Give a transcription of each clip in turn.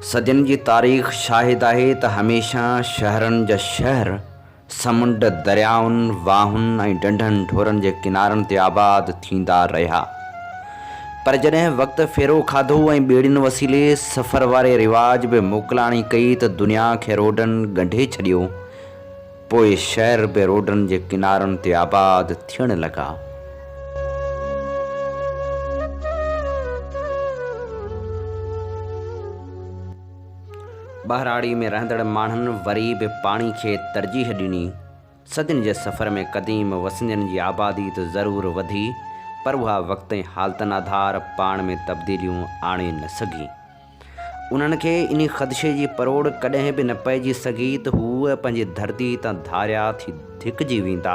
صدين جي تاريخ شاهد آهي ته هميشه شهرن جا شهر سمنڊ، دريائن، واهن ۽ ڍنڍن ڍورن جي ڪنارن تي آباد ٿيندا رهيا. پر جڏهن وقت ڦيرو کاڌو ۽ ٻيڙين وسيلي سفر واري رواج به موڪلاڻي ڪئي ته دنيا کي روڊن ڳنڍي ڇڏيو. پوء شهر به روڊن جي ڪنارن تي آباد ٿيڻ لڳا. ٻهراڙي ۾ رهندڙ ماڻهن وري به پاڻي کي ترجيح ڏني. صدين جي سفر ۾ قديم وسندين جي آبادي ته ضرور وڌي، پر اها وقت ۽ حالتن آڌار پاڻ ۾ تبديليون آڻي نه سگهي. انهن کي ان خدشي جي پروڙ ڪڏهن به نه پئجي سگهي ته هو پنهنجي ڌرتي تان ڌاريا ٿي ڌڪجي ويندا.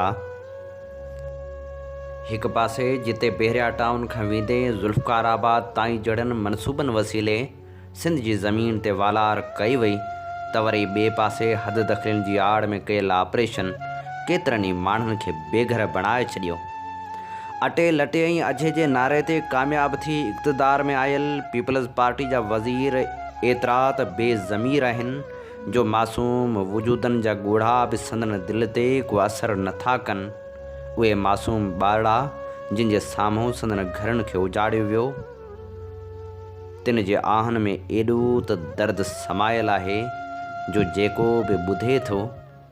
هڪ پاسي جتي بحريا ٽائون کان ويندي ذوالفقار آباد تائين جهڙن منصوبن وسيلي سنڌ جي زمين تي والار ڪئي وئي ته وري ٻئي پاسي حد دخلين جي آڙ ۾ ڪيل آپريشن ڪيترن ئي ماڻهن کي بيگهر بڻائي ڇڏيو. اٽي لٽي ۽ اجهي جي نعري تي ڪامياب ٿي اقتدار ۾ آيل پيپلز پارٽي جا وزير ايترا ته بي ضمير آهن جو معصوم وجودن جا ڳوڙها به سندن دل تي ڪو اثر نه ٿا ڪن. اهي معصوم ٻارڙا جن جي سامهون سندن گهرن کي اجاڙيو ويو تن جي آهن ۾ ايڏو ته درد سمايل آهي جو جيڪو به ٻڌي ٿو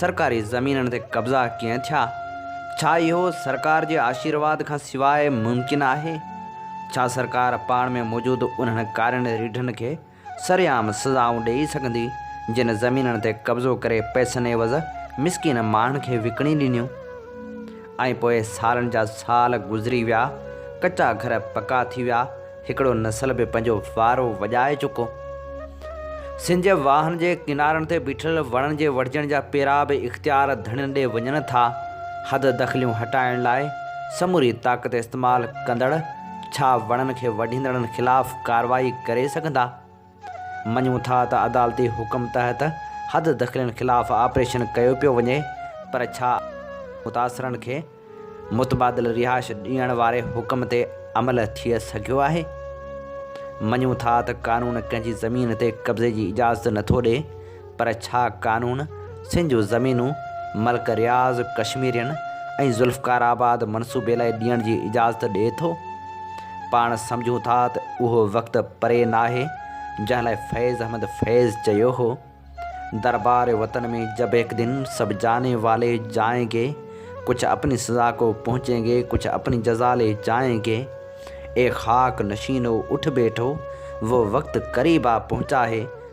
سرڪاري زمينن تي قبضا ڪيئن ٿيا؟ ڇا اهو سرڪار جي آشيرواد کان سواء ممڪن آهي؟ ڇا سرڪار پاڻ ۾ موجود انهن ڪارين ريڍن کي سرعام سزائون ڏيئي سگهندي جن زمينن تي قبضو ڪري پئسن عيوض مسڪين ماڻهن کي وڪڻي ڏنيون ۽ پوء سالن جا سال گذري ويا ڪچا گهر پڪا ٿي ويا هڪڙو نسل به پنهنجو وارو وڄائي چڪو. سنج واهن جي ڪنارن تي بيٺل وڻن جي وڍجڻ جا پيرا به اختيار ڌڻين ڏي وڃن ٿا. حد دخليون هٽائڻ لاء سموري طاقت استعمال ڪندڙ ڇا وڻن کي وڍيندڙن خلاف ڪارروائي ڪري سگهندا؟ مڃون ٿا ته عدالتي حڪم تحت حد دخلين خلاف آپريشن ڪيو پيو وڃي پر ڇا متاثرن کي متبادل رهائش ڏيڻ واري حڪم تي عمل ٿي سگهيو آهي؟ مڃون ٿا ته قانون ڪنهن جي زمين تي قبضي جي اجازت نٿو ڏي، پر ڇا قانون سنڌ جون زمينون ملڪ رياض ڪشميرين ۽ ذوالفقار آباد منصوبي لاء ڏيڻ جي اجازت ڏئي ٿو؟ پاڻ سمجهون ٿا ته اهو وقت پري ناهي جنهن لاء فيض احمد فيض چيو هو دربار وطن ۾ جب هڪ دن سڀ جاني والي جائين گي ڪڇ اپني سزا ڪو پهچين گي ڪڇ اپني جزا لي جائين گي اي خاڪ نشينو اٺ بيٺو وو وقت قريب آ پهچا هي